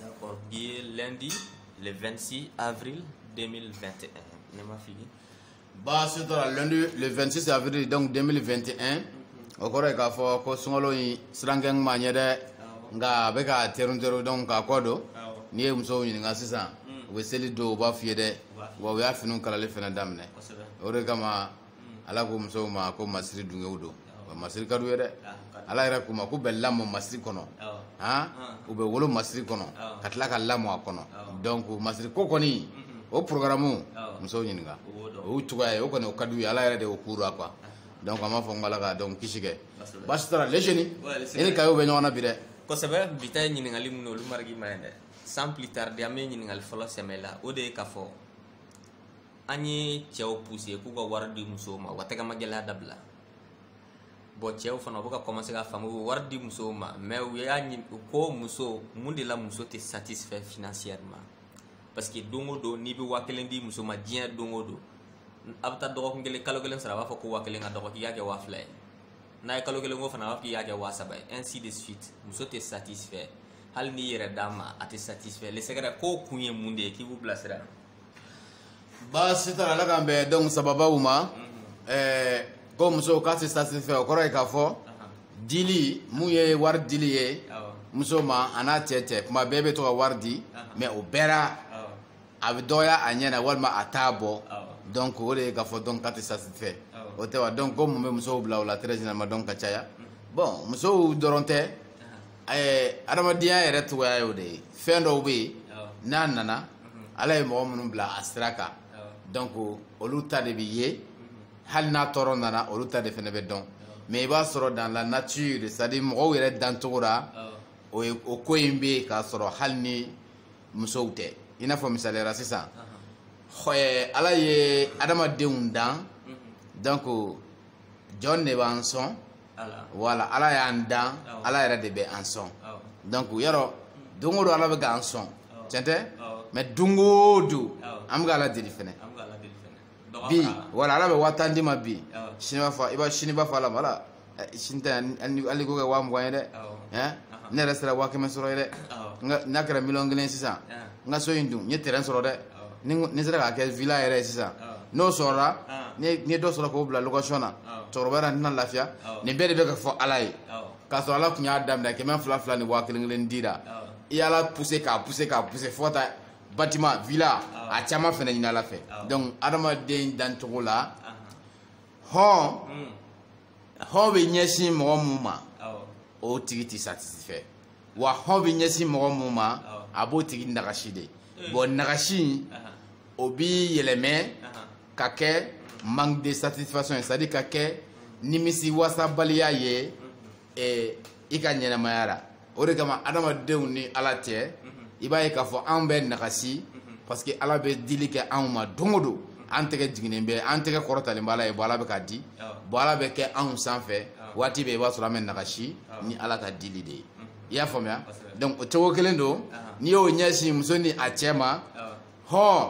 D'accord, qui est lundi, le 26 avril 2021. Ne m'a fini. Bah, c'est lundi, le 26 avril donc 2021. Au cours de la fois, ko sungalo yi srangen manyere nga beka terun terun donc ka kodo. Ni e muso ni nga sisan. We seli do ba fiede. Wa we afinu kalale fena damne. Ore kama ala ko musow ma ko masiri dunkew don wa masiri ka d'u ye dɛ ala yɛrɛ k'u ma k'u bɛ lamɔ masiri kɔnɔ han u bɛ wolo masiri kɔnɔ ka tila ka lamɔ a kɔnɔ donc masiri ko kɔni o programme musow ɲininka o y'u cogoya ye o kɔni o ka d'u ye ala yɛrɛ de y'o k'u la quoi donc an b'a fɔ n ko ala ka donc kisi kɛ baasi t'a la les jeunes i ni kayo bɛ ɲɔgɔn na bi dɛ kosɛbɛ bi ta ye ɲininkali minnu olu marigi ma ye dɛ sans plus tarder an bɛ ɲininkali fɔlɔ sɛmɛ la o de ye k'a fɔ an ye cɛw pousser k'u ka wari di musow ma u ka tɛgɛmagɛlɛya dabila bon cɛw fana u bɛ ka commencer ka faamu u bɛ wari di musow ma mais u y'a ɲini ko muso mun de la muso tɛ satisfait financièrement parce que don o don n'i bɛ waa kelen di muso ma diɲɛ don o don a bɛ taa dɔgɔkun kelen kalo kelen sɔrɔ a b'a fɔ ko waa kelen ka dɔgɔ k'i y'a kɛ waa fila ye n'a ye kalo kelen ko fana a b'a fɔ k'i y'a kɛ waa saba ye ainsi de suite muso tɛ satisfait hali n'i yɛrɛ d'a ma a tɛ satisfait lesɛgɛrɛ ko kun ye mun de ye k'i b'u bilasira baasi t'a la ala k'an bɛn donc sawabaw ma ɛɛ ko musow k'a tɛ satisfait o kɔrɔ ye k'a fɔ dili mun ye wari dili ye muso ma a n'a cɛ cɛ kuma bɛɛ bɛ to ka wari di mais o bɛɛ la a bɛ dɔgɔya a ɲɛ na walima a t'a bɔ donc o de ye k'a fɔ donc k'a tɛ satisfait o tɛ wa donc ko mun bɛ musow bila o la très généralement donc ka caya bon musow dɔrɔn tɛ. ɛɛ adamadenya yɛrɛ cogoya y'o de ye fɛn dɔw bɛ yen n'a nana ala ye mɔgɔ minnu bila a sira kan donc olu ta de bɛ ye hali n'a tɔɔrɔ nana olu ta de fɛnɛ bɛ dɔn mais i b'a sɔrɔ dans la nature c'est à dire mɔgɔw yɛrɛ dancogo la o ye o ko in bɛ yen k'a sɔrɔ hali ni musow tɛ i n'a fɔ misaliya la sisan ɛɛ ala ye adamadenw dan donc jɔn de b'an sɔn. voilà ala y'an dan ala yɛrɛ de bɛ an sɔn donc yɔrɔ don o don ala bɛ k'an sɔn tiɲɛ tɛ mais don o don an bɛ ka ala deli fɛnɛ bi voilà ala bɛ waa tan d'i ma bi sini b'a fɔ i b'a sini b'a fɔ ala ma ala sini tɛ hali k'o kɛ waa mugan ye dɛ ne yɛrɛ sera waa kɛmɛ sɔrɔ ye dɛ n'a kɛra miliyɔn kelen sisan n ka so in dun n ye terrain sɔrɔ dɛ ni n- ni sera k'a kɛ villa yɛrɛ ye sisan n'o sɔrɔla ni ye- ni ye dɔ sɔrɔ k'o bila location na cɛkɔrɔbaya la n tun na lafiya nin bɛɛ de bɛ ka fɔ ala ye k'a sɔrɔ ala tun y'a daminɛ kɛmɛ fila fila ni waa kelen kelen di la i y'ala pousser k'a pousser k'a pousser fo ka taa bâtiment villa a caman fɛnɛ ɲini ala fɛ donc adamaden dancogo la hɔn hɔn bɛ ɲɛsin mɔgɔ mun ma o tigi tɛ satisfait wa hɔn bɛ ɲɛsin mɔgɔ mun ma a b'o tigi nagasi de eh. bon nagasi in o bi yɛlɛmɛ ka kɛ manque de satisfaction ye c'est à dire ka kɛ nimisi wasabaliya ye eh, i ka ɲɛnamaya la o de kama adamadenw ni ala cɛ i b'a ye k'a fɔ anw bɛ nagasi parce que ala bɛ dili kɛ anw ma don o don an tɛgɛ jiginnen bɛ an tɛgɛ kɔrɔtalen bɛ ala ye bon ala bɛ k'a di bon ala bɛ kɛ anw sanfɛ waati bɛɛ i b'a sɔrɔ an bɛ nagasi ni ala ka dili de ye i y'a faamuya donc o cogo kelen don n'i y'o ɲɛsin muso ni a cɛ ma hɔn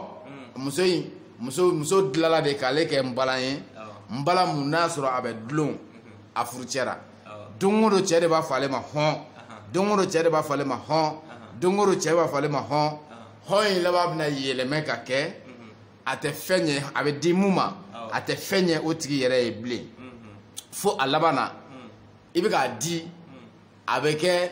muso in muso muso dilala de k'ale kɛ n balan ye n bala mun n'a sɔrɔ a bɛ dulon a furucɛ ra don o don cɛ de b'a fɔ ale ma hɔn don o don cɛ de b'a fɔ ale ma hɔn don o don cɛ b'a fɔ ale ma hɔn hɔn in laban bɛna yɛlɛmɛ ka kɛ a tɛ fɛn ɲɛ a bɛ di mun ma a tɛ fɛn ɲɛ o tigi yɛrɛ ye bilen fo a laban na i bɛ k'a di a bɛ kɛ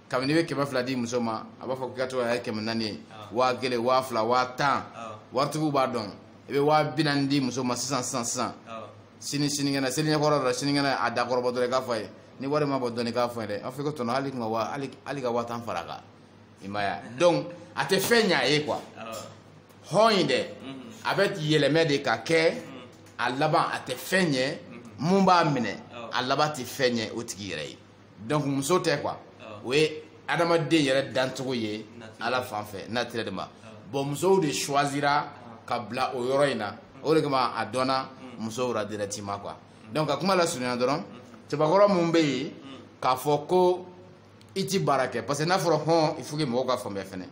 kabini i bɛ kɛmɛ fila di muso ma a b'a fɔ k'i ka to a ye kɛmɛ naani ye waa kelen waa fila waa tan waritigiw b'a dɔn i bɛ waa bi naani di muso ma sisan sisan sisan sini sinikɛnɛ seliɲɛkɔrɔ don sinikɛnɛ a dakɔrɔbɔ dɔrɔn i k'a fɔ a ye ni wari ma bɔ dɔɔni i k'a fɔ a ye dɛ a n'a fɔ ko tɔnɔ hali ka waa hali ka waa tan fara a kan i m'a ye donc a tɛ fɛn ɲɛ a ye quoi hɔn in dɛ a bɛ yɛlɛmɛ de ka kɛ a laban a tɛ fɛn ɲɛ mun b'a minɛ a laban tɛ fɛn ɲɛ o tigi yɛrɛ ye donc muso tɛ quoi o ye adamaden yɛrɛ dancogo ye ala fan fɛ naturellement bon musow de choisira ka bila o yɔrɔ in na o de kama a dɔnna musow la directement quoi donc ka kuma lasurunya dɔrɔn cɛbakɔrɔ mun bɛ yen k'a fɔ ko i ti baara kɛ parce que n'a fɔra hɔn il faut que mɔgɔw k'a faamuya fɛnɛ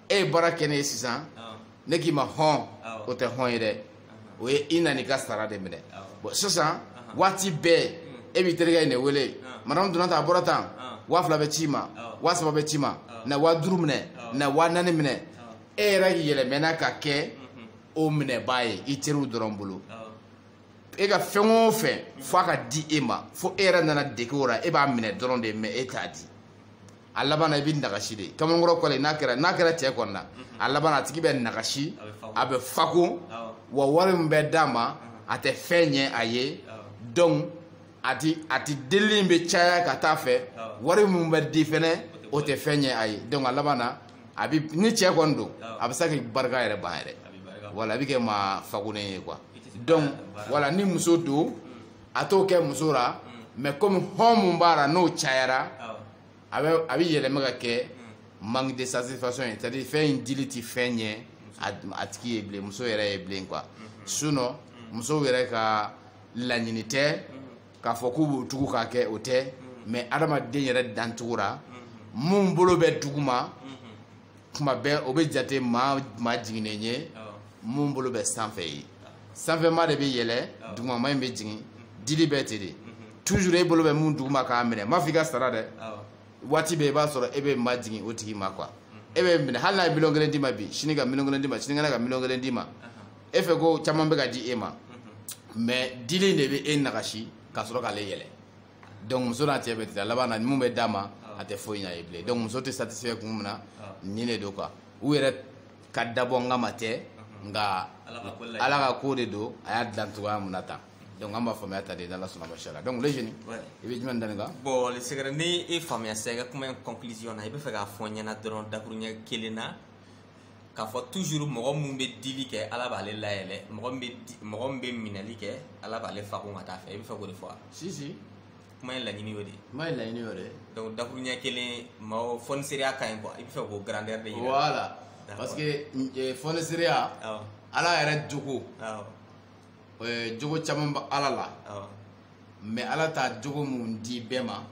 e ye baara kɛ ne ye sisan ne k'i ma hɔn o tɛ hɔn ye dɛ o ye i nana i ka sara de minɛ bon sisan waati bɛɛ e b'i terikɛ in de wele madamu donna tan a bɔra tan waa fila bɛ ci ma waa saba bɛ ci ma na waa duuru minɛ na waa naani minɛ e yɛrɛ yɛlɛmɛna ka kɛ o minɛbaa ye i teriw dɔrɔn bolo e ka fɛn o fɛn f'a ka di e ma fo e yɛrɛ nana dege o la e b'a minɛ dɔrɔn de mais e t'a di a laban na i bɛ nagasi de kamalenkɔrɔ kɔle n'a kɛra n'a kɛra cɛ kɔni na a laban na a tigi bɛ nagasi a bɛ fako wa wari min bɛ d'a ma a tɛ fɛn ɲɛ a ye donc a ti a ti delili in bɛ caya ka taa a fɛ wari min bɛ di fɛnɛ o tɛ fɛn ɲɛ a ye donc a laban na a bi ni cɛ kɔni don a bɛ se k'i barika yɛrɛ ban yɛrɛ wala a bɛ kɛ maa fakolen ye quoi donc wala ni muso don a t'o kɛ muso la mais comme hɔn mun b'a la n'o cayara a bɛ yɛlɛma ka kɛ manque de satisfaction ye c'est à dire fɛn in dili ti fɛn ɲɛ a tigi ye bilen muso yɛrɛ ye bilen quoi sinon musow yɛrɛ ka laɲini tɛ k'a fɔ k'u b'o tugu k'a kɛ o tɛ mais adamaden yɛrɛ dancogo la mun bolo bɛ duguma kuma bɛɛ o bɛ jate maa maa jiginnen ye mun bolo bɛ sanfɛ ye sanfɛma de bɛ yɛlɛ dugumama in bɛ jigin dili bɛ ten de toujours e bolo bɛ mun duguma k'a minɛ n m'a fɔ i ka sara dɛ waati bɛɛ i b'a sɔrɔ e bɛ majigin o tigi ma quoi e bɛ minɛ hali n'a ye miliyɔn kelen d'i ma bi sini ka miliyɔn kelen d'i ma sinikɛnɛ ka miliyɔn kelen d'i ma e fɛ ko caman bɛ ka di e ma mais dili in de bɛ e nagasi ka sɔrɔ k'ale yɛlɛ donc muso n'a cɛ bɛ ten a laban na mun bɛ d'a ma ah. a tɛ foyi ɲ'a ye bilen donc muso tɛ satisfait kun min na ah. nin de don quoi u yɛrɛ ka dabɔ n kama tɛ uh-huh. nka ala ka ko de don a y'a dilan cogoya mun na tan donc an b'a faamuya tan de n'ala sɔnna ma inshallah donc le jeune i bɛ jumɛn dani kan bon le secret ni e faamuya sisan i ka kuma in conclusion na i bɛ fɛ k'a fɔ n ɲɛna dɔrɔn dakuruɲɛ kelen na k'a fɔ toujours mɔgɔ min bɛ dili kɛ ala b'ale layɛlɛ mɔgɔ min bɛ mɔgɔ min bɛ minɛli kɛ ala b'ale fakun ka taa fɛ i bɛ fɛ k'o de fɔ wa si si kuma in laɲini y'o de ye kuma in laɲini y'o de ye donc dakuruɲɛ kelen maaw fɔniseriya ka ɲi quoi i bɛ fɛ k'o grandeur de yira voilà parce que eh, fɔniseriya ala yɛrɛ jogo eh, jogo caman bɛ ala la mais ala t'a jogo mun di bɛɛ ma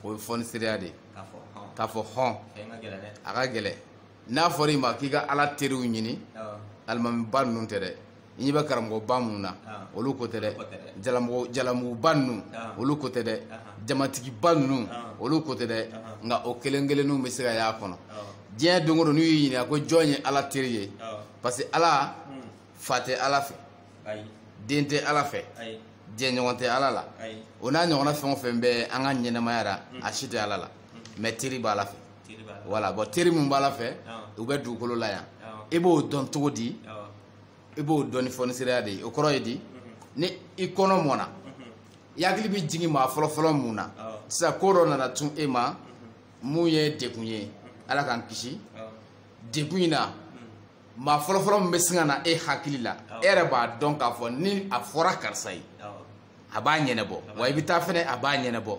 o ye fɔniseriya de ye k'a fɔ hɔn a ka gɛlɛ n'a fɔra i ma k'i ka ala teriw ɲini alimamiba ninnu tɛ dɛ i ɲɛ bɛ karamɔgɔba minnu na olu ko tɛ dɛ jalamuguba ninnu olu ko tɛ dɛ jamatigiba ninnu olu ko tɛ dɛ nka o kelen kelenninw bɛ se ka y'a kɔnɔ diɲɛ don o don n'u y'i ɲininka ko jɔn ye ala teri ye parce que ala hmm. fa tɛ ala fɛ den tɛ ala fɛ jɛɲɔgɔn tɛ ala la o n'a ɲɔgɔnna fɛn o fɛn bɛ an ka ɲɛnɛmaya la hmm. a si tɛ ala la hmm. mais teri b'ala fɛ voilà bon teri min b'ala fɛ u bɛ dugukolo la yan i b'o dɔn cogo di i b'o dɔn ni fɔniseriya de ye o kɔrɔ ye di ni i kɔnɔ mɔna i hakili bɛ jigin maa fɔlɔfɔlɔ mun na sisan ko dɔ nana cun e ma mun ye dekun ye ala k'an kisi dekun in na maa fɔlɔfɔlɔ min bɛ sin ka na e hakili la e yɛrɛ b'a dɔn k'a fɔ ni a fɔra karisa ye a b'a ɲɛnɛbɔ wa i bɛ taa fɛnɛ a b'a ɲɛnɛbɔ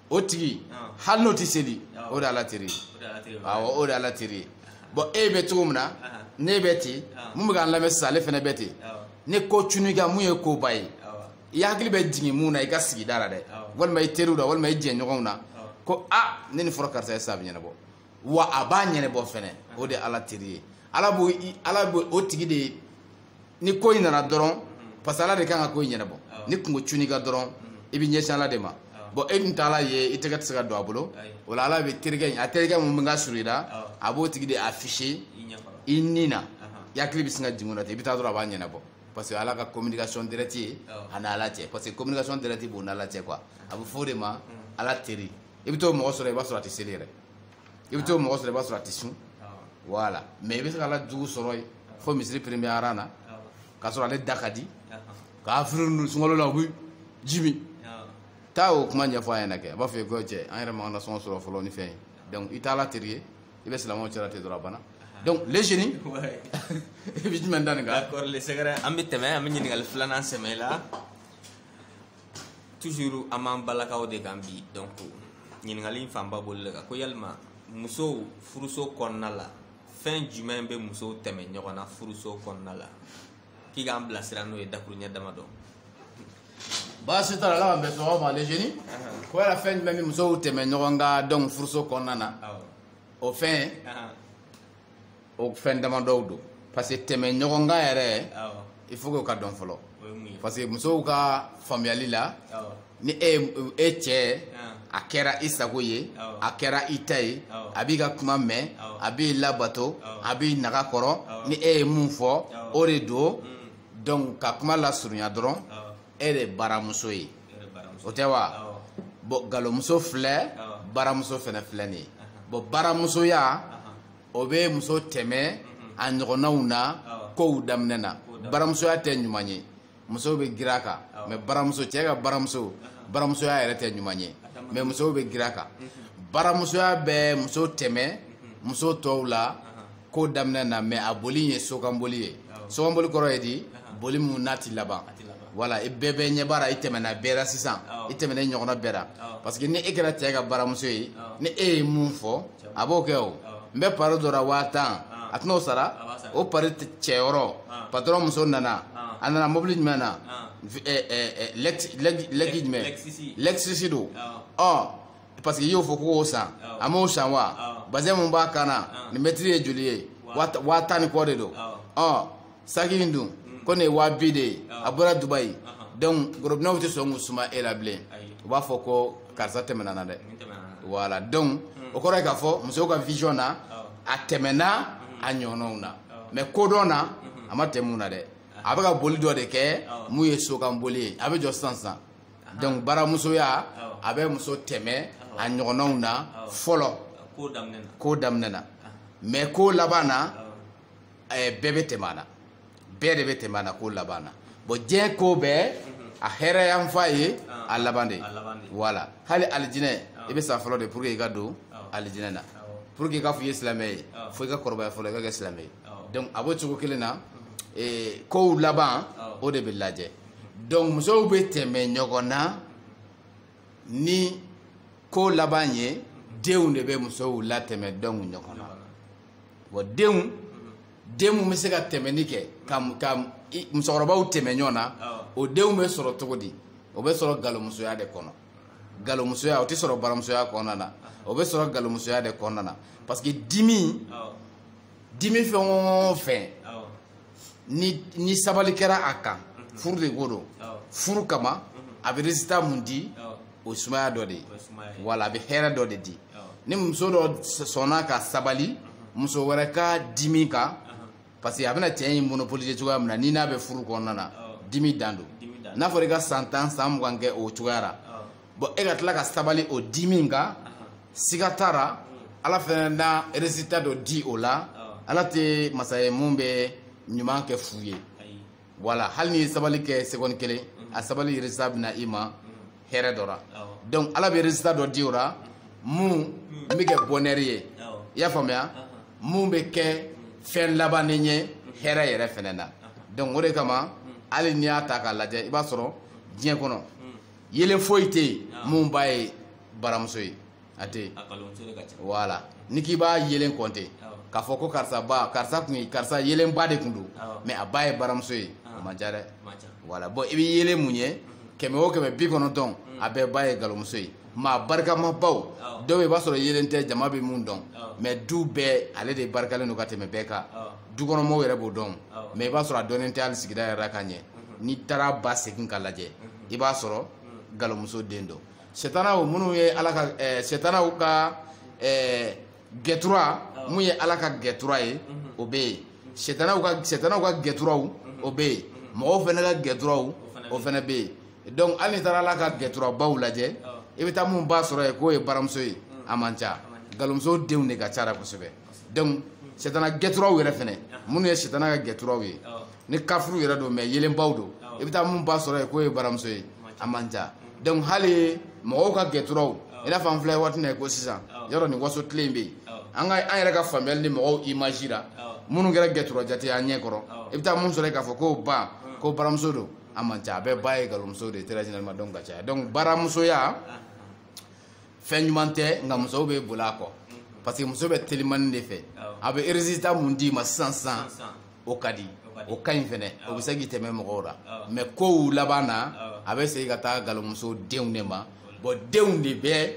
o tigi hali n'o tɛ seli o de ala teri ye awɔ o de ala teri ye bon e bɛ cogo min na ne bɛ ten mun bɛ k'an lamɛn sisan ale fɛnɛ bɛ ten ni ko cunn'i kan mun ye koba ye i hakili bɛ jigin mun na i ka sigida la dɛ walima i teriw la walima i jɛɲɔgɔnw na ko a ni nin fɔra karisa ye sa a bɛ ɲɛnabɔ wa a b'a ɲɛnɛbɔ fɛnɛ o de ala teri ye ala b'o ala b'o o tigi de ni ko in nana dɔrɔn parce que ala de kan ka ko in ɲɛnɛbɔ ni kunko cunn'i kan dɔrɔn i bɛ ɲɛsin ala de ma bon e dun t'ala ye i tɛgɛ tɛ se ka don a bolo o la ala bɛ terikɛ in a terikɛ mun bɛ ka surun i la a b'o tigi de afficher i ni na i hakili bɛ sin ka jigin o la ten i bɛ taa dɔrɔn a b'a ɲɛnɛbɔ parce que ala ka communication directe ye a n'ala cɛ parce que communication directe b'o n'ala cɛ quoi a bɛ fɔ o de ma ala teri i bɛ t'o mɔgɔ sɔrɔ i b'a sɔrɔ a tɛ seli yɛrɛ i bɛ t'o mɔgɔ sɔrɔ i b'a sɔrɔ a tɛ sun voilà mais i bɛ se ka ala jugu sɔrɔ yen fo misiri premier rang na k'a sɔrɔ ale da ka di kafiri ninnu sunkalo la u bɛ ji min taa o kuma ɲɛfɔ a ɲɛna kɛ a b'a fɔ i ye ko cɛ an yɛrɛ m'an ka nasɔngɔ sɔrɔ fɔlɔ ni fɛn ye donc i t'ala teri ye i bɛ silamɛw cɛla ten dɔrɔn a banna donc les jeunes i bɛ jumɛn da nin kan d'accord le secret an bɛ tɛmɛ an bɛ ɲininkali filanan sɛmɛ i la toujours an b'an balakaw de kan bi donc ɲininkali in fanba bolil'a kan ko yalima musow furuso kɔnɔna la fɛn jumɛn bɛ musow tɛmɛ ɲɔgɔn na furuso kɔnɔna la k'i k'an bilasira n'o ye dakuruɲɛ damadɔ baasi t'a la ala k'an bɛn sɔgɔma ma les jeunes ko yala fɛn jumɛn bɛ musow tɛmɛ ɲɔgɔn kan donc furuso kɔnɔna na o fɛn o fɛn damadɔw don parce que tɛmɛ ɲɔgɔn kan yɛrɛ il faut que o ka dɔn fɔlɔ parce que musow ka faamuyali la ni e e cɛ a kɛra i sago ye a kɛra i ta ye a b'i ka kuma mɛn a b'i labato a b'i naga kɔrɔ ni e ye mun fɔ o de don mm. donc ka kuma lasurunya dɔrɔn e de baramuso ye o tɛ wa bon galomuso filɛ baramuso fɛnɛ filɛ nin ye bon baramusoya o bɛ muso tɛmɛ a ɲɔgɔnnaw na kow daminɛ na baramusoya tɛ ɲuman ye musow bɛ girin a kan mais baramuso cɛ ka baramuso baramusoya yɛrɛ tɛ ɲuman ye mais musow bɛ girin a kan baramusoya bɛ muso tɛmɛ muso tɔw la ko daminɛ na mais a boli ye sokanboli ye sokanboli kɔrɔ ye di boli mun n'a tɛ laban voilà i bɛ bɛɛ ɲɛ baara i tɛmɛna bɛɛ ra sisan i tɛmɛna i ɲɔgɔnna bɛɛ ra parce que ni e kɛra cɛ ka baramuso ye ni e ye mun fɔ a b'o kɛ o n bɛ pari dɔ la waa tan a tɛn'o sara o pari cɛyɔrɔ patɔrɔn muso nana a nana mobili jumɛn na lɛkisi jumɛn lexus don ɔ parce que i y'o fɔ k'o san a m'o san wa bazɛn mun b'a kan na nin mɛtiri ye joli ye waa tan ni kɔ de don ɔ saki in dun ko nin ye waa bi de ye a bɔra dubayi donc gorobinɛw tɛ sɔn k'u suma e la bilen u b'a fɔ ko karisa tɛmɛna an na dɛ voilà donc o kɔrɔ ye k'a fɔ musow ka vision na a tɛmɛna a ɲɔgɔnnaw na mais kodɔn na a ma tɛmɛ u na dɛ a bɛ ka boli dɔ de kɛ mun ye sokanboli ye a bɛ jɔ sisan sisan donc baramusoya a bɛ muso tɛmɛ a ɲɔgɔnnaw na fɔlɔ ko daminɛ na mais ko laban na bɛɛ bɛ tɛmɛ a na bɛɛ de bɛ tɛmɛ a na ko laban na bon diɲɛ ko bɛɛ a hɛrɛ yanfan ye a laban de ye voilà hali alijinɛ i bɛ sa fɔlɔ de pour que i ka don alijinɛ na pour que i k'a fɔ i ye silamɛ ye fo i ka kɔrɔbaya fɔlɔ i ka kɛ silamɛ ye donc a b'o cogo kelen na kow laban o de bɛ lajɛ donc musow bɛ tɛmɛ ɲɔgɔn na ni ko laban ye denw de bɛ musow latɛmɛ donc ɲɔgɔn na bon denw den mun bɛ se ka tɛmɛni kɛ ka ka musokɔrɔbaw tɛmɛ ɲɔgɔn na o denw bɛ sɔrɔ cogo di o bɛ sɔrɔ galomusoya de kɔnɔ galomusoya o tɛ sɔrɔ baramusoya kɔnɔna na o bɛ sɔrɔ galomusoya de kɔnɔna na parce que dimi dimi fɛn o fɛn ni ni sabali kɛra a kan mhm. furu de ko don furu kama mhm. a bɛ résultat mun di o sumaya dɔ de ye wala a bɛ hɛrɛ dɔ de di ni muso dɔ sɔnna ka sabali mhm. muso wɛrɛ ka dimi kan parce que a bɛna cɛ in monopoliser cogoya min na ni n'a bɛ furu kɔnɔna na dimi dan don n'a fɔra i ka san tan san mugan kɛ o cogoya la bon e ka tila ka sabali o dimi in kan siga t'a la ala fɛnɛ na résultat dɔ di o la ala tɛ masa ye mun bɛ ɲuman kɛ fu ye voilà hali n'i ye sabali kɛ seconde kelen a sabali résultat bɛ na i ma hɛrɛ dɔ la donc ala bɛ résultat dɔ di o la mun bɛ kɛ bonheur ye i y'a faamuya mun bɛ kɛ fɛn labannen ye hɛrɛ yɛrɛ fɛnɛ na donc o de kama hali n'i y'a ta k'a lajɛ i b'a sɔrɔ diɲɛ kɔnɔ yelen foyi tɛ yen mun ba ye baramuso ye a tɛ yen voilà ni k'i b'a yelen compter k'a fɔ ko karisa ba karisa tun ye karisa yelenba de tun don mais a ba ye baramuso ye o man ca dɛ voilà bon i bɛ yelen mun ye mm-hmm. kɛmɛ o kɛmɛ bi kɔnɔntɔn mm. a bɛɛ ba ye galomuso ye maa barikamabaw dɔw bɛ i b'a sɔrɔ yelen tɛ jama bɛ mun dɔn mais du bɛɛ ale de barikalen don ka tɛmɛ bɛɛ kan dukɔnɔmɔgɔw yɛrɛ b'o dɔn mais i b'a sɔrɔ a dɔnnen tɛ hali sigida yɛrɛ la ka ɲɛ mm-hmm. n'i taara ba segin ka lajɛ mm-hmm. i b'a sɔrɔ galomuso den don setanaw minnu ye ala ka eh, setanaw ka eh, gɛtura mun ye ala ka gɛtura ye o bɛ yen setanaw ka setanaw ka gɛturaw o bɛ yen mɔgɔw fɛnɛ ka gɛturaw o fɛnɛ bɛ yen donc hali n'i taara ala ka gɛturabaw lajɛ i bɛ taa mun ba sɔrɔ yen k'o ye baramuso ye a man ca galomuso denw de ka ca la kosɛbɛ donc setana gɛturaw yɛrɛ fɛnɛ minnu ye setana ka gɛturaw ye ni kafuru yɛrɛ don mais yelenbaw don i bɛ taa mun ba sɔrɔ yen k'o ye baramuso ye a man ca donc hali mɔgɔw ka gɛturaw i n'a fɔ an filɛ waati min na ko sisan yɔrɔ nin waso tile in bɛ yen an ka an yɛrɛ ka faamuyali ni mɔgɔw image la minnu kɛra gɛtura jate an ɲɛ kɔrɔ i bɛ taa mun sɔrɔ yen k'a fɔ k'o ba ko baramuso don a man ca a bɛɛ ba ye galomuso de ye très généralement donc ka caya donc baramusoya fɛn ɲuman tɛ nka musow bɛ boli a kɔ parce que muso bɛ telimani de fɛ a bɛ résultat mun d'i ma sisan sisan o ka di o ka ɲi fɛnɛ o bɛ se k'i tɛmɛ mɔgɔw la mais kow laban na a bɛ segin ka taa galomuso denw de ma bon denw de bɛ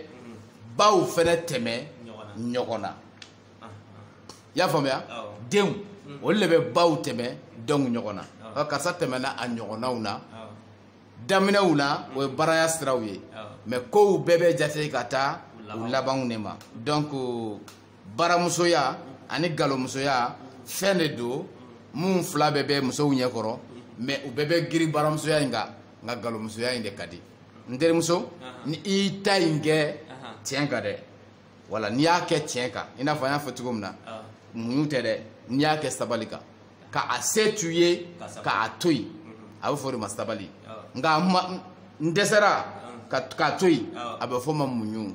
baw fɛnɛ tɛmɛ ɲɔgɔn na i y'a faamuya denw olu de bɛ baw tɛmɛ denw ɲɔgɔn na karisa tɛmɛna a ɲɔgɔnnaw na daminɛw la o ye baraya siraw ye mais kow bɛɛ bɛ jate ka taa u labanw de ma donc baramusoya ani galomusoya fɛn de don minnu fila bɛɛ bɛ musow ɲɛkɔrɔ mais u bɛɛ bɛ giri baramusoya in kan nka galomusoya in de ka di n terimuso ni i ta in kɛ tiɲɛ kan dɛ voilà n'i y'a kɛ tiɲɛ kan i n'a fɔ an y'a fɔ cogo min na ah. muɲu tɛ dɛ n'i y'a kɛ sabali kan ka a se to i ye ka a to yen mm-hmm. a bɛ fɔ o de ma sabali ah. nka n dɛsɛra ah. k'a to yen a bɛ fɔ o ma muɲu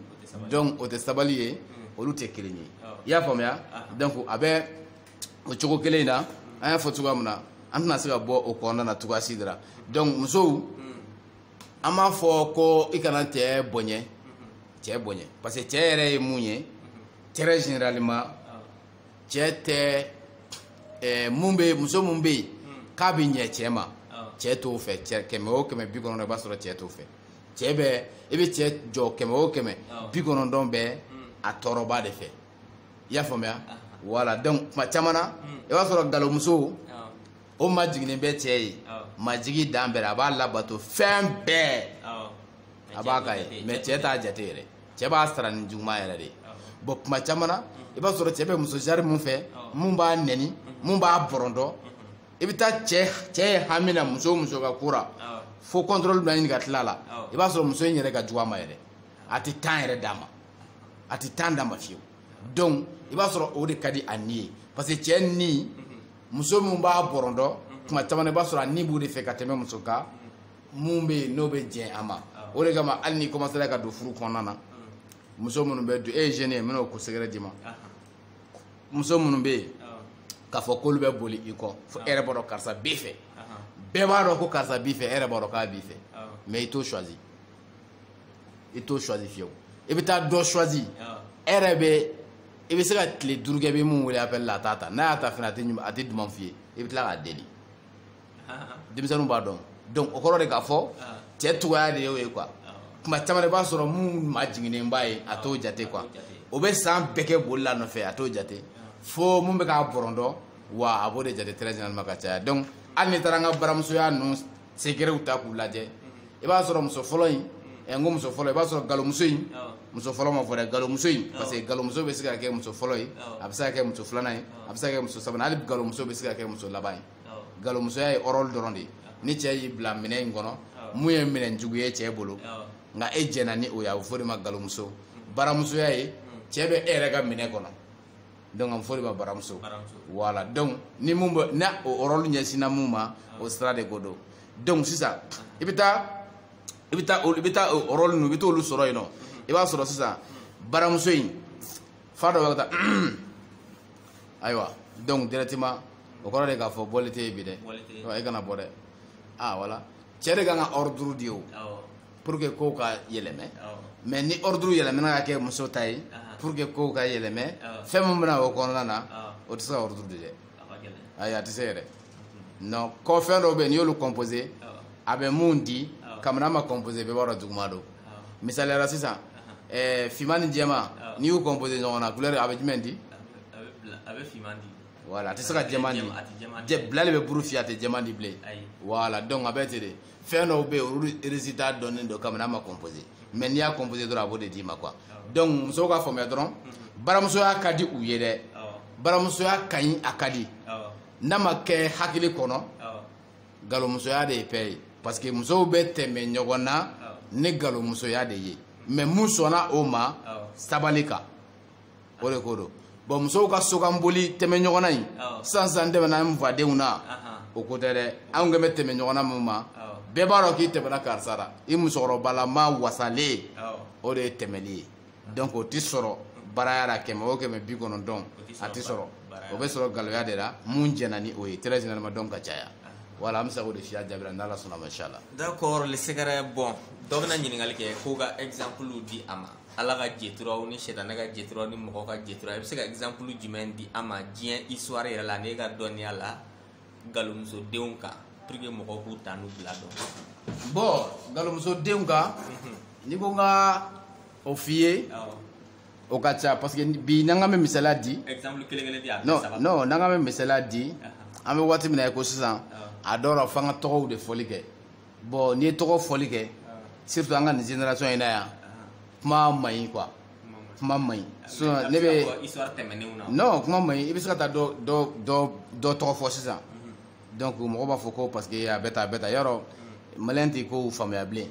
donc o tɛ sabali ye mm. olu tɛ kelen ye i y'a faamuya donc a bɛ o cogo kelen in na mm. an y'a fɔ cogoya min na an tɛna se ka bɔ o kɔnɔna na cogoya si de la donc musow mm. an m'a fɔ ko i kana cɛ bonya cɛ bonya parce que cɛ yɛrɛ ye mun ye très généralement cɛ tɛ ɛɛ mun bɛ muso mun bɛ yen k'a bɛ ɲɛ cɛ ma cɛ t'o fɛ cɛ kɛmɛ o kɛmɛ bi kɔnɔntɔn i b'a sɔrɔ cɛ t'o fɛ cɛ bɛ i bɛ cɛ jɔ kɛmɛ o kɛmɛ bi kɔnɔntɔn bɛ a tɔɔrɔba de fɛ i y'a faamuya voilà donc tuma caman na i b'a sɔrɔ galomuso o majiginnen bɛ cɛ ye majigi dan bɛɛ a b'a labato fɛn bɛɛ a b'a k'a ye mais cɛ t'a jate yɛrɛ cɛ b'a sara ni juguman yɛrɛ de ye bon tuma caman na i b'a sɔrɔ cɛ bɛ muso jari min fɛ mun b'a nɛni mun b'a bɔrɔntɔ i bɛ taa cɛ cɛ ye hami na muso muso ka ko ra fo contrôle bɛ ɲini ka tila la i b'a sɔrɔ muso in yɛrɛ ka jugu a ma yɛrɛ a tɛ temps yɛrɛ d'a ma a tɛ temps d'a ma fiyewu donc i b'a sɔrɔ o de ka di a ni ye parce que cɛ ni muso min b'a bɔrɔntɔ tuma caman i b'a sɔrɔ a ni b'o de fɛ ka tɛmɛ muso kan mun bɛ yen n'o bɛ jɛn a ma o de kama hali n'i commencera ka don furu kɔnɔna na muso minnu bɛ don e ye jeune ye n bɛna o ko secret d'i ma muso minnu bɛ yen k'a fɔ k'olu bɛ boli i kɔ fo e yɛrɛ b'a dɔn karisa b'i fɛ bɛɛ b'a dɔn ko karisa b'i fɛ e yɛrɛ b'a dɔn k'a b'i fɛ mais i t'o choisi i t'o choisi fiyewu i bɛ taa dɔ choisi e yɛrɛ bɛ i bɛ se ka tile duuru kɛ i bɛ mun wele appel la a t'a ta n'a y'a ta fana a tɛ duman f'i ye i bɛ tila k'a deli denmisɛnninw b'a dɔn donc o kɔrɔ de k'a fɔ cɛ cogoya de y'o ye quoi tuma caman i b'a sɔrɔ mun majiginnen b'a ye a t'o jate quoi o bɛ san bɛɛ kɛ boli la nɔfɛ a t'o jate fo mun bɛ k'a bɔrɔntɔ wa a b'o de jate très généralement ka caya donc hali n'i taara an ka baramusoya ninnu secretw ta k'u lajɛ i b'a sɔrɔ muso fɔlɔ in ɛ n ko muso fɔlɔ i b'a sɔrɔ galomuso in muso fɔlɔ ma fɔ dɛ galomuso in parce que galomuso bɛ se ka kɛ muso fɔlɔ ye a bɛ se ka kɛ muso filanan ye a bɛ se ka kɛ muso sabanan hali galomuso bɛ se ka kɛ muso laban ye galomusoya ye rôle dɔrɔn de ye ni cɛ y'i bila minɛn in kɔnɔ mun ye minɛn jugu ye cɛ bolo nka e jɛnna ni o ye a bɛ fɔ o de ma galomuso baramusoya ye cɛ bɛ e yɛrɛ ka minɛn kɔnɔ donc a bɛ fɔ o de ma baramuso voilà donc ni mun bɛ n'a o rôle ɲɛsinna mun ma o sira de ko don donc sisan i bɛ taa i bɛ taa i bɛ taa o rôle ninnu i bɛ t'olu sɔrɔ yen nɔ i b'a sɔrɔ sisan baramuso in fa dɔ bɛ ka taa ayiwa donc directement o kɔrɔ de k'a fɔ bɔli tɛ yen bi dɛ i kana bɔ dɛ ah voilà cɛ de ka kan ka ordre di o. pour que kow ka yɛlɛmɛ mais ni ordre yɛlɛmɛna ka kɛ muso ta ye pour que kow ka yɛlɛmɛ fɛn min bɛna o kɔnɔna na o tɛ se ka ordre di dɛ ayi a tɛ se yɛrɛ non ko fɛn dɔw bɛ yen n'i y'olu composé a bɛ mun di kabini a ma composé bɛɛ b'a dɔn juguman don misaliya la sisan ɛɛ finman ni jɛman n'i y'u composé ɲɔgɔn na couleur a bɛ jumɛn di a bɛ finman di voilà a tɛ se ka jɛman di jɛ bila de bɛ buru fiyɛ a tɛ jɛman di bilen voilà donc a bɛ ten de fɛn dɔw bɛ yen olu résultat dɔnnen don kabini a ma composé mais n'i y'a composé dɔrɔn a b'o de d'i ma quoi donc musow ka faamuya dɔrɔn baramusoya ka di u ye dɛ baramusoya ka ɲi a ka di n'a ma kɛ hakili kɔnɔ galomusoya de ye paix ye parce que musow bɛ tɛmɛ ɲɔgɔn na ni galomusoya de ye mais mun sɔnna o ma sabali kan o de ko don bon musow ka sokanboli tɛmɛ ɲɔgɔnna in sisan sisan tɛmɛna n fadenw na o ko tɛ dɛ anw kan bɛ tɛmɛ ɲɔgɔnna min ma bɛɛ b'a dɔn k'i tɛmɛna karisa la i musokɔrɔbalama wasalen o de ye tɛmɛli ye donc o tɛ sɔrɔ baraya la kɛmɛ o kɛmɛ bi kɔnɔntɔn a tɛ sɔrɔ o bɛ sɔrɔ galoya de la mun jɛnna ni o ye très généralement donc ka caya voilà an bɛ se k'o de f'i ya jaabi la n'ala sɔnna ma inchallah d'accord le secret bon dɔ bɛna ɲininkali kɛ k'o ka exemple di a ma ala ka jeturaw ni sɛtanɛ ka jeturaw ni mɔgɔ ka jetura i bɛ se ka exemple jumɛn di an ma diɲɛ histoire yɛrɛ la n'e ka dɔnniya la galomusodenw kan pour que mɔgɔw k'u ta n'u bila dɔn bon galomusodenw kan n'i ko n ka o f'i ye o ka ca parce que bi n'an k'an bɛ misaliya di exemple kelen kelen di a non non n'an k'an bɛ misaliya di an bɛ waati min na i ko sisan a dɔw la f'an ka tɔgɔw de fɔli kɛ bon n'i ye tɔgɔ fɔli kɛ surtout an ka nin génération in na yan kuma man ɲi quoi kuma man ɲi sinon ne bɛ non kuma man ɲi i bɛ se ka taa dɔ dɔ dɔ dɔ tɔgɔ fɔ sisan mhm. donc mɔgɔ b'a fɔ ko parce que a bɛ tan a bɛ tan yɔrɔ mhm. maliyɛn tɛ kow faamuya bilen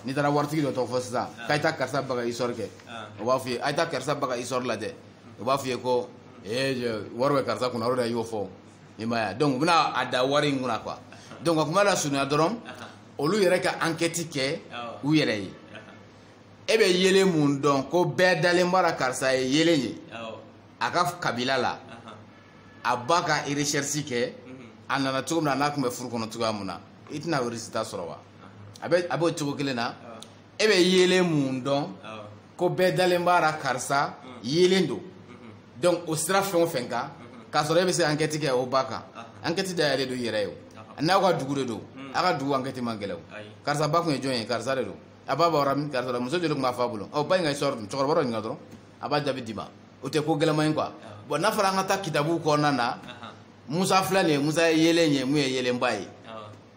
n'i taara waritigi dɔ tɔgɔ fɔ sisan k'a ye taa karisa ba ka histoire kɛ o b'a f'i ye a ye taa karisa ba ka histoire lajɛ o b'a f'i ye ko ee wari bɛ karisa kunna o de la i y'o fɔ i m'a ye donc u bɛna a da wari in kunna quoi donc ka kuma lasurunya dɔrɔn olu yɛrɛ ka ankɛti kɛ u yɛrɛ ye e bɛ yeelen mun dɔn ko bɛɛ dalen b'a la karisa ye yeelen ye a ka kabila la a ba ka recherche kɛ a nana cogo min na n'a tun bɛ furu kɔnɔ cogoya mun na i tɛna o résultat sɔrɔ wa a b'o cogo kelen na e bɛ yeelen mun dɔn ko bɛɛ dalen b'a la karisa yeelen don donc o sira fɛn o fɛn kan k'a sɔrɔ e bɛ se ankɛti kɛ o ba kan ankɛti dayɛlɛ don i yɛrɛ ye o n'aw ka dugu de don a ka dugu ankɛti man gɛlɛn o karisa ba tun ye jɔn ye karisa de don a ba bɔra min karisa la muso joli tun b'a fa bolo ɔ ba in ka histoire dun cɛkɔrɔba dɔ ɲininka dɔrɔn a b'a jaabi d'i ma o tɛ ko gɛlɛman ye quoi bon n'a fɔra an ka taa kitabu kɔnɔna na musa filɛ nin ye musa ye yeelen ye mun ye yeelenba ye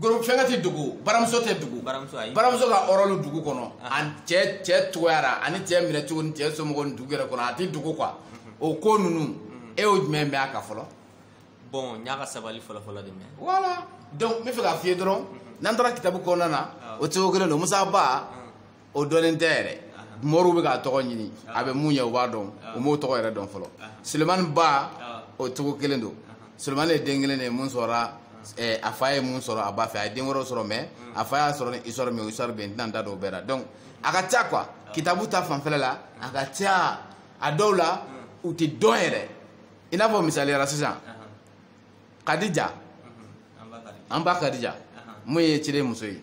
fɛnkɛ tɛ dogo baramuso tɛ dogo baramuso ka ɔrɔlu dugu kɔnɔ ah. cɛ cogoya la ani cɛ minɛ cogo ni cɛ somɔgɔw ni dugu yɛrɛ kɔnɔ a tɛ dogo quoi mhm. o ko ninnu mhm. e y'o jumɛn mɛn a kan fɔlɔ. bon n y'a ka sabali fɔlɔfɔlɔ de mɛn. voilà donc n bɛ fɛ k'a f'i ye dɔrɔn mhm. n'an taara kitabu kɔnɔna na ah. o cogo kelen don musa ba. Ah. o dɔnnen tɛ yɛrɛ moriw bɛ k'a tɔgɔ ɲini a bɛ mun ye u b'a dɔn u m'o tɔgɔ yɛrɛ dɔn fɔlɔ sulemani ba o cogo kelen don sulemani ye den kelen de ye mun sɔrɔla eh, a fa ye mun sɔrɔ a ba fɛ a ye den wɛrɛw sɔrɔ mais a fa y'a sɔrɔ ni histoire min ye o histoire bɛ yen n tɛna n da don o bɛɛ la donc a ka ca quoi kitabu ta fanfɛla la a ka ca a dɔw la u tɛ dɔn yɛrɛ i n'a fɔ misaliya la sisan kadija an ba kadija mun ye ciden muso ye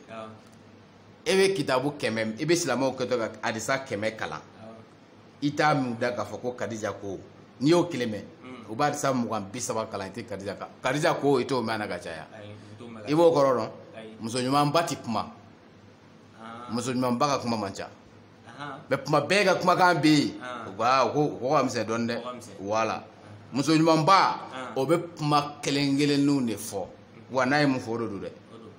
e bɛ kitabu kɛmɛ i bɛ silamɛw kɛtɔ ka adisa kɛmɛ kalan i t'a mɛn dɛ k'a fɔ ko kadija ko n'i y'o kelen mɛn o b'a adisa mugan bi saba kalan i tɛ kadija kan kadija ko i t'o mɛn a ka caya i b'o kɔrɔ dɔn muso ɲumanba ti kuma muso ɲumanba ka kuma man ca mais kuma bɛɛ ka kumakan bɛ yen u ko aa ko o ka misɛn dɔɔni dɛ voilà muso ɲumanba o bɛ kuma kelen kelenninw de fɔ wa n'a ye mun fɔ o de don dɛ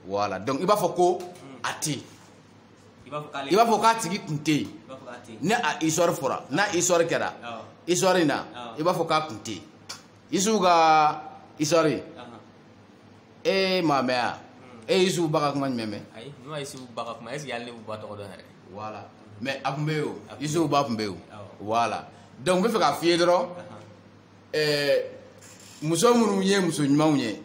voilà donc i b'a fɔ ko a tɛ yen i b'a fɔ k'a tigi kun tɛ yen ni a histoire fɔra n'a histoire kɛra histoire in na i b'a fɔ k'a kun tɛ yen isufu ka histoire e m'a mɛn wa e ye isufu ba ka kuma jumɛn mɛn ayi ne ma isufu ba ka kuma est-ce que hali ne b'u ba tɔgɔ dɔn yɛrɛ voilà mais a tun bɛ yen o isufu ba tun bɛ yen o voilà donc n bɛ fɛ k'a f'i ye dɔrɔn ɛɛ muso minnu ye muso ɲumanw ye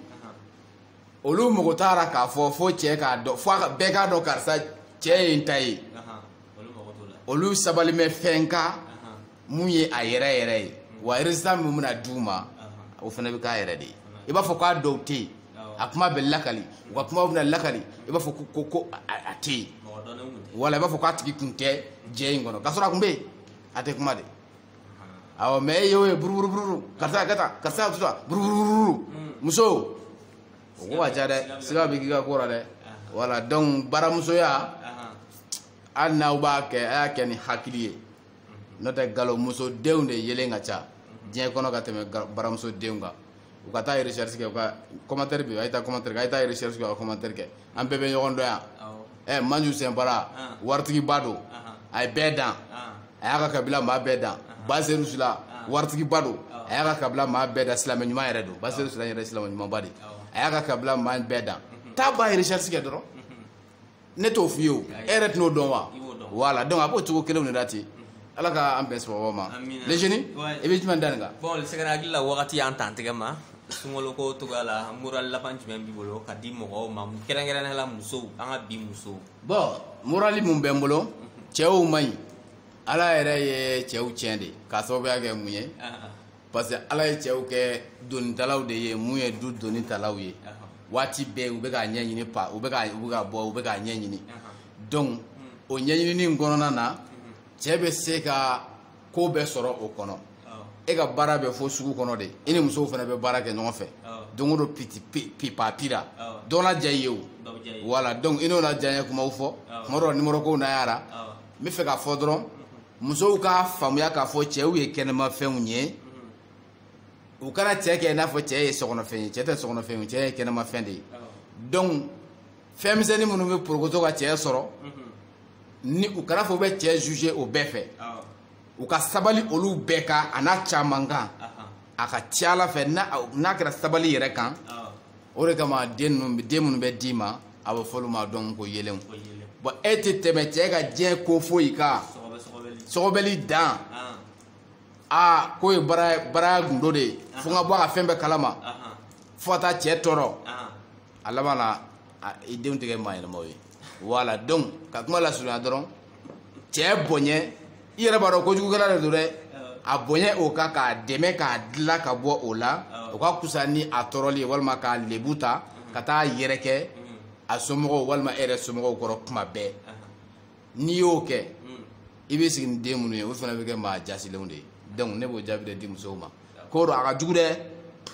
olu mago t'a la k'a fɔ fo cɛ k'a dɔn fo bɛɛ k'a dɔn karisa cɛ ye n ta ye olu mago t'o la olu sabali mɛ fɛn ka mun ye a yɛrɛ yɛrɛ ye wa résultat min bɛna di u ma o fana bɛ k'a yɛrɛ de ye i b'a fɔ k'a dɔw tɛ yen a kuma bɛ lakali u ka kuma bɛna lakali i b'a fɔ ko ko ko a tɛ yen wala i b'a fɔ k'a tigi kun tɛ jɛ in kɔnɔ k'a sɔrɔ a kun bɛ yen a tɛ kuma de awɔ mais e y'o ye buruburubururu karisa ka taa karisa ka taa buruburubururu hmm. muso o ko ka ca dɛ siga bɛ k'i ka ko la dɛ voilà donc baramusoya hali n'aw b'a kɛ a y'a kɛ ni hakili ye n'o tɛ galomuso denw de yelen ka ca diɲɛ kɔnɔ ka tɛmɛ ga- baramuso denw kan u ka taa recherche kɛ u ka commentaire bɛ yen a ye taa commentaire kɛ a ye taa recherche kɛ u ka commentaire kɛ an bɛɛ bɛ ɲɔgɔn dɔn yan Awɔ. ɛ manju sinpara Ah. waritigiba don Ahan. a ye bɛɛ dan Ah. a y'a ka kabila maa bɛɛ dan baseru sila waritigiba don a y'a ka kabila maa bɛɛ dan silamɛ ɲuman yɛrɛ don baseru sila yɛrɛ ye silamɛ ɲumanba de ye. a y'a ka kabila maa bɛɛ dan taa ba ye recherche kɛ dɔrɔn ne t'o f'i ye o e yɛrɛ tɛn'o dɔn wa voilà donc a b'o cogo kelenw de la ten ala ka an bɛn sababu ma le jeune i bɛ jumɛn da nin kan bon sɛgɛrɛ hakili la wagati y'an tan tigɛ ma sunkoloko togoya la moral laban jumɛn b'i bolo ka di mɔgɔw ma kɛrɛnkɛrɛnnenya la musow an ka bi musow bon morali mun bɛ n bolo cɛw man ɲi ala yɛrɛ ye cɛw tiɲɛ de k'a sababuya kɛ mun ye ah, ah. parce que ala ye cɛw kɛ donitalaw de ye mun ye du doni talaw ye waati bɛɛ u bɛ k'a ɲɛɲini pa u bɛ ka u bɛ ka bɔ u bɛ k'a ɲɛɲini donc o ɲɛɲinini in kɔnɔna na cɛ bɛ se ka ko bɛɛ sɔrɔ o kɔnɔ e ka baara bɛ fo sugu kɔnɔ de i ni musow fana bɛ baara kɛ ɲɔgɔn fɛ don o don piti pipa pira dɔ na diya i ye o voilà donc i n'o na diya n ye kumaw fɔ kuma dɔ nimoro kow na y'a ra n bɛ fɛ k'a fɔ dɔrɔn musow k'a faamuya k'a fɔ cɛw ye kɛnɛmafɛnw ye u kana cɛ kɛ i n'a fɔ cɛ ye sokɔnɔfɛn ye cɛ tɛ sokɔnɔfɛn ye cɛ ye kɛnɛmafɛn de ye donc fɛn misɛnnin minnu bɛ porokoto ka cɛ sɔrɔ ni u kana fɔ u bɛ cɛ juger o bɛɛ fɛ u ka sabali olu bɛɛ kan a n'a caman kan a ka ca ala fɛ n'a kɛra sabali yɛrɛ kan o de kama den ninnu den minnu bɛ d'i ma a bɛ fɔ olu ma dɔn ko yelenw bɔn e tɛ tɛmɛ cɛ ka diɲɛ ko foyi kan sɔgɔbɛli dan aa k'o ye bara baraya gundo de ye fo n ka bɔ a ka fɛn bɛɛ kalama fo ka taa cɛ tɔɔrɔ a laban na i denw tɛ kɛ maa ɲɛnamaw ye voilà donc ka kuma lasurunya dɔrɔn cɛ boɲɛ i yɛrɛ b'a dɔn kojugukɛla de don dɛ a boɲɛ o kan k'a dɛmɛ k'a dila ka bɔ o la o ka kusa ni a tɔɔrɔli ye walima k'a lebu ta ka taa yɛrɛkɛ a somɔgɔw walima e yɛrɛ somɔgɔw kɔrɔ kuma bɛɛ n'i y'o kɛ i bɛ sigi ni den minnu ye olu fana bɛ kɛ maa jasilenw de ye donc ne b'o jaabi de di musow ma ko don a ka jugu dɛ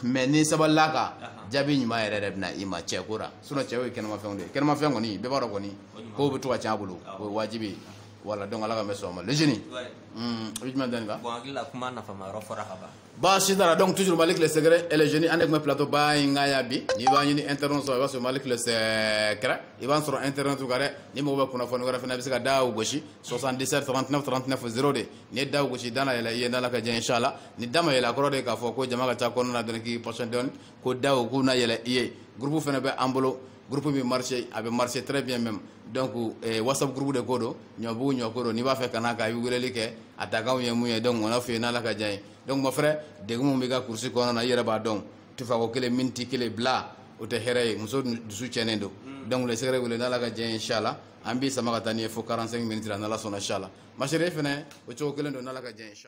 mais n'i sabalila kan jaabi ɲuman yɛrɛ de bɛ na i ma cɛko la sinon cɛw ye kɛnɛmafɛnw de ye kɛnɛmafɛn kɔni bɛɛ b'a dɔn kɔni kow bɛ to ka cɛn a bolo o ye wajibi ye voilà donc ala ka mɛ sɔn ma le génie i bɛ jumɛn dɔn nin kan bon n hakili la kuma nafama yɔrɔ fɔra ka ban baasi t'a la donc toujours malick le secret et le génie an de tun bɛ plateau ba in kan yan bi n'i b'an ɲini internet sɔrɔ i b'a sɔrɔ malick le secret i b'an sɔrɔ internet kan dɛ n'i mago bɛ kunnafoni wɛrɛ fana i bɛ se ka da o gosi 77 39 39 0 de n'i ye da o gosi da na yɛlɛ i ye n'ala ka diɲɛ inshallah ni da ma yɛlɛ a kɔrɔ de k'a fɔ ko jama ka ca kɔnɔna na dɔrɔn k'i patienter dɔɔni ko da o k'u na yɛlɛ i ye groupe fana bɛ an bolo groupe bɛ marché a bɛ marché très bien même donc eh, whatsapp groupe de ko don ɲɔbugu ɲɔko don n'i b'a fɛ ka n'a kan i bɛ weleli kɛ a dakanw ye mun ye donc o n'a f'i ye n'ala ka diɲɛ ye donc mon frère degun min b'i ka kurusi kɔnɔna na i yɛrɛ b'a dɔn tufako kelen miniti kelen bila o tɛ hɛrɛ ye muso dusu tiɲɛnen don donc le secret wele n'ala ka diɲɛ ye inchallah an b'i sama ka taa n'i ye fo 45 minutes la n'ala sɔnna inchallah ma chérie e fana o cogo kelen don n'ala ka diɲɛ ye inchallah